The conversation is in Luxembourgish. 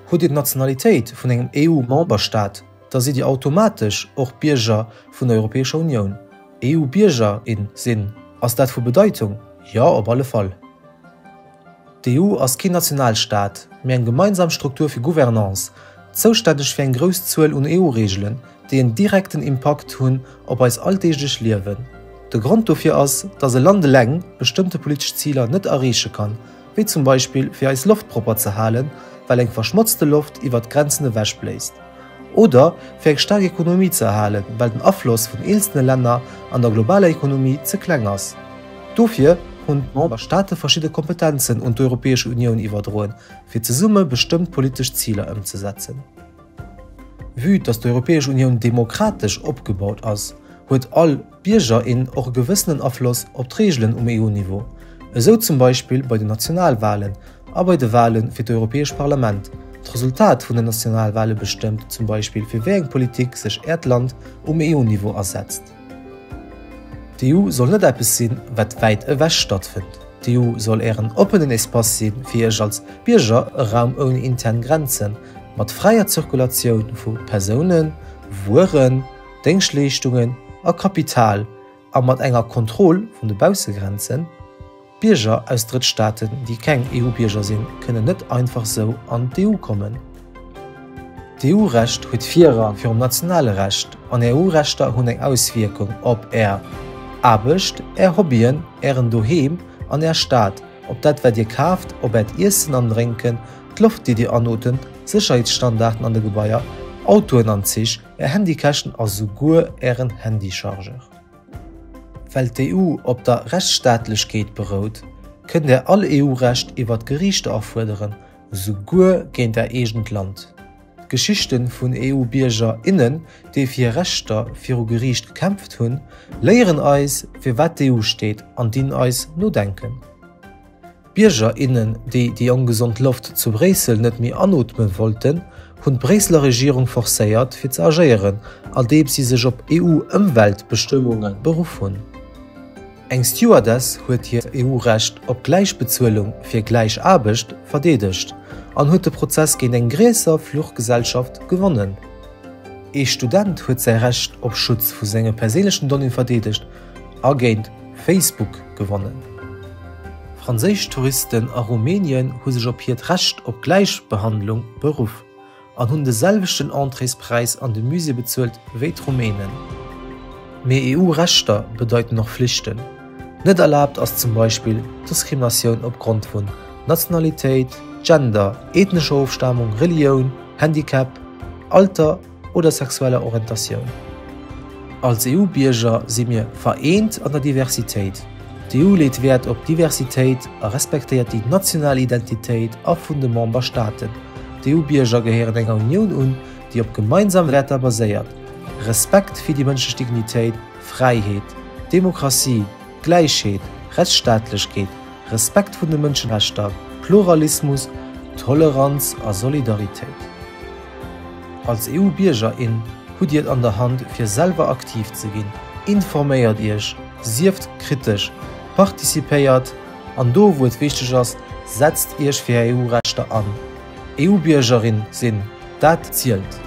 Hutt Dir d'Nationalitéit vun engem EU-Memberstaat, da sidd Dir automatesch och Bierger vun der Europäescher Unioun. EU-Bierger, in, sinn. Ass dat vu Bedeitung? Jo, op alle Fall. D'EU ass keen Nationalstaat, mee eng gemeinsam Struktur fir Gouvernance, zoustänneg fir eng grouss Zuel un EU-Reegelen, déi en direkten Impakt hunn op eis alldeeglech Liewen. De Grond dofir ass, datt e Land eleng bestëmmte politesch Ziler net erreeche kann, wéi zum Beispill fir eis Loft propper ze halen, well eng verschmotzte Loft iwwert d'Grenzen ewech bléist. Oder fir eng staark Ekonomie ze erhalen, well den Afloss vun eenzelne Länner an der globaler Ekonomie ze kleng ass. Dofir hunn d'Memberstaate verschidde Kompetenzen un d'Europäesch Unioun iwwerdroen, fir zesumme bestëmmt politesch Ziler ëmzesetzen. Vue dass d'Europäesch Unioun demokratesch opgebaut ass, huet all. Bierger, innen och e gewëssenen Afloss op d'Reegelen um EU-Niveau, esou zum Beispill bei den Nationalwalen a bei de Wale fir d'Europäesch Parlament. D'Resultat vun den Nationalwale bestëmmt zum Beispill fir wéi eng Politik sech Äert Land um EU-Niveau asetzt. D'EU soll net eppes sinn, wat wäit ewech stattfënnt. D'EU soll Ären oppenen Espace sinn, fir Iech als Bierger, e Raum ouni intern Grenzen, mat fräier Zirkulatioun vu Persounen, Wueren, Déngschtleeschtungen a Kapital a mat enger Kontroll vun de Baussegrenzen. Bierger aus Drëttstaaten, déi keng EU-Bierger sinn, kënnen net einfach sou an d'EU kommen. D'EU-Recht huet Virrang virum nationale Recht an Är EU-Rechter hunn eng Auswierkung op Är Aarbecht, Är Hobbyen, Ären Doheem an Är Stad, op dat wat Dir kaaft, op Äert Iessen an Drénken, d'Loft déi Dir anotemt, Sécherheetsstandarden an de Gebaier, Autoen an Zich, Är Handykäschten a souguer Ären Handychargeur. Well d'EU op der Rechtsstaatlechkeet berout, kënnt Där all EU-Recht iwwer d'Geriichter afuerderen, souguer géint Är eegent Land. D'Geschichte vun EU-Bierger, innen, déi fir hir Rechter viru Geriicht gekämpft hunn, léieren eis, fir wat d'EU steet an dinn eis no denken. Bierger, innen, déi déi ongesond Loft zu Bréissel net méi anootmen wollten, hunn d'Bréisseler Regierung forcéiert, fir ze agéieren, andeems si sech op EU-Ëmweltbestëmmunge beruff hunn. Eng Stewardess huet hiert EU-Recht op gläich Bezuelung fir gläich Aarbecht verdeedegt an huet de Prozess géint eng gréisser Fluchgesellschaft gewonnen. Ee Student huet säi Recht op Schutz vu senge perséinlechen Donnéeë verdeedegt a géint Facebook gewonnen. Franséisch Touristen a Rumänien hu sech op hiert Recht op Gläichbehandlung beruff an hunn de selwechten Entréespräis an de Musée bezuelt wéi d'Rumänen. Mee EU-Rechter bedeiten och Flichten. Net erlaabt ass zum Beispill Diskriminatioun opgrond vun Nationalitéit, Gender, ethnescher Ofstamung, Relioun, Handicap, Alter, oder sexueller Orientatioun. Als EU-Bierger si mir vereent an der Diversitéit. D'EU leet Wäert op Diversitéit a respektéiert déi national Identitéit a vun de Memberstaaten. D'EU-Bierger gehéieren enger Unioun un, déi op gemeinsam Wäerter baséiert, Respekt fir déi mënschlech Dignitéit, Fräiheet, Demokratie, Gläichheet, Rechtsstaatlechkeet, Respekt vun de Mënscherechter, Pluralismus, Toleranz a Solidaritéit. Als EU-Bierger, in hutt Dir et an der Hand fir selwer aktiv ze ginn. Informéiert Iech, sieft kritesch, participéiert an do wou et wichteg ass, setzt Iech fir Är EU-Rechter an. EU-Biergerin sinn, dat zielt!